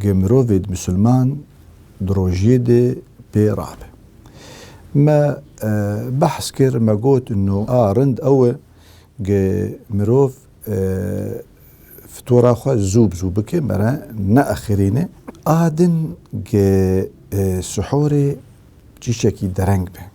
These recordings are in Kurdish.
Ge mirovê di misilman di rojiyê de pê rabe. Me behs kir, me got no a rind ew e ge mirov fitora xwe zû bi zû bike me re neexirîne. A din ge sihorê çîçekî dereng be.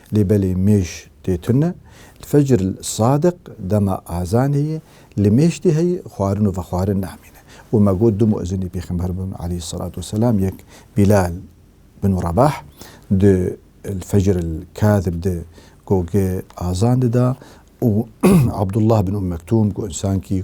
Lê belê mêj tê tune. Fecr li sadiq dema azanê ye, li mêj tê heyî xwarin û vexwarin namîne. Û me got du muezinê pêxember bûn aleyh selat û selam yek Bîlal bin Rebah di li fecr li kadib de ku ge azan dida û Abdullah bin Ûm Mektûm ku însankî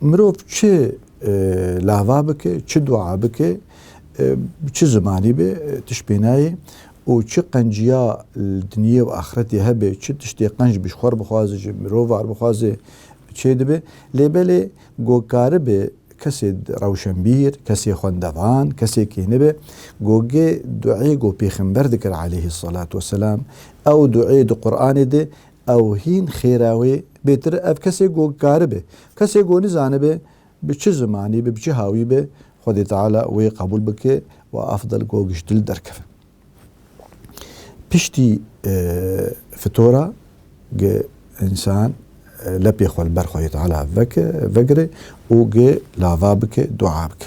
Mirov çi lava bike, çi dua bike, bi çi zimanî be tişt pê nayê û çi qenciya li dinyê û axretê hebe, çi tiştê qenc bi ji xwe re bixwaze, ji mirovan re bixwaze çêdibe. Lê belê ku karibe kesê rewşenbîr, kesê xwendevan, kesê kêne be gogê duayê ku pêxember dikir aleyhî selatû weselam, ew duayê di Quranê de Ew hîn xêr e wê bêtir ev kesê ku karibe, kesê ku nizanibe bi çi zimanî be, bi çi hawî be Xwedê Teala wê qebûl bike û afdal ku giş dil derkeve. Piştî fitora gi însan lepê xwe li ber Xwedê Teala veke, vegire û gi lava bike, dua bike.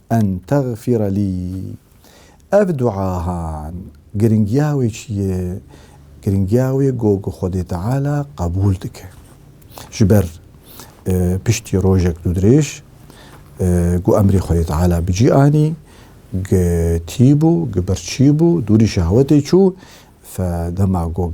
En tagfîre lî. Ev duahan giringiya wê çi ye? Giringiya wê got ku Xwedê Teala qebûl dike. Ji ber piştî rojek dûdirêj ku emrê Xwedê Teala bi cî anî, gitîbû, gibirçîbû, dûrî şehwetê çû, fe dema ku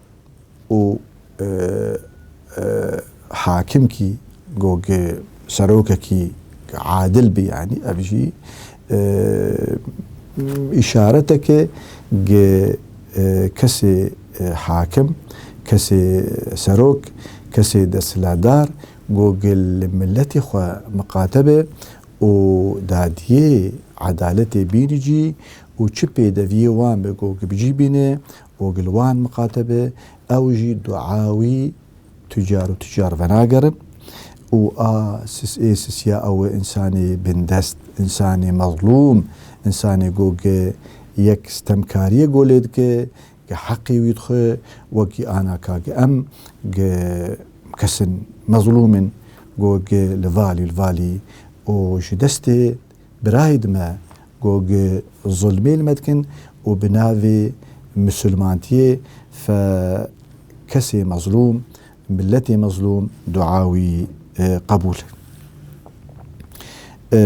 û hakimkî got serokekî adil bî yanî ev jî îşareteke gi kesê hakim, kesê serok, kesê desthilatdar got gi li miletê xwe miqate be û dadiyê edaletê bînî cî û çi pêdeviyê wan be got gi bi cî bîne Û gel wan miqate be ew jî dua wî tucar û tucar venagerin û a ê sisiya ew e însanê bindest, însanê mezlûm, însanê ku ke yek stemkariyê ku lê dike ke heqê wî dixwe wekî ana ka ke em ke kes in mezlûm in ku ke li valî li valî û ji destê Birayed me ku gi zulmê li me dikin û bi navê misulmantiyê fe kesê mezlûm, miletê mezlûm dua wî qebûl e.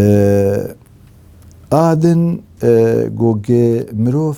A din ku gi mirov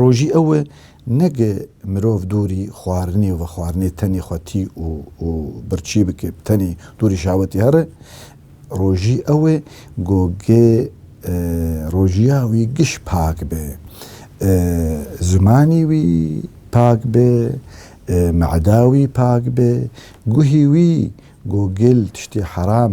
Rojî ew e neke mirov dûrî xwarinê û vexwarinê tenê xwe tî û û birçî bike, bi tenê dûrî şawetî here. Rojî ew e ku ge rojiya wî giş pak be, zimanî wî pak be, me'da wî pak be, guhî wî ku gel tiştê heram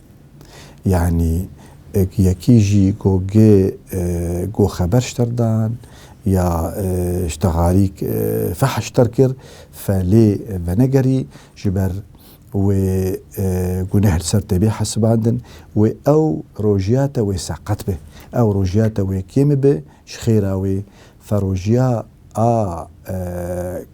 Yanî yekî jî ku gê ku xeber ji te re dan ya ji te harîk fehş ji te re kir fe lê venegerî ji ber wê guneh li ser te bê hesibandin wê ew rojiya te wê seqet be. Ew rojiya te wê kêm be ji xêra wê fe rojiya a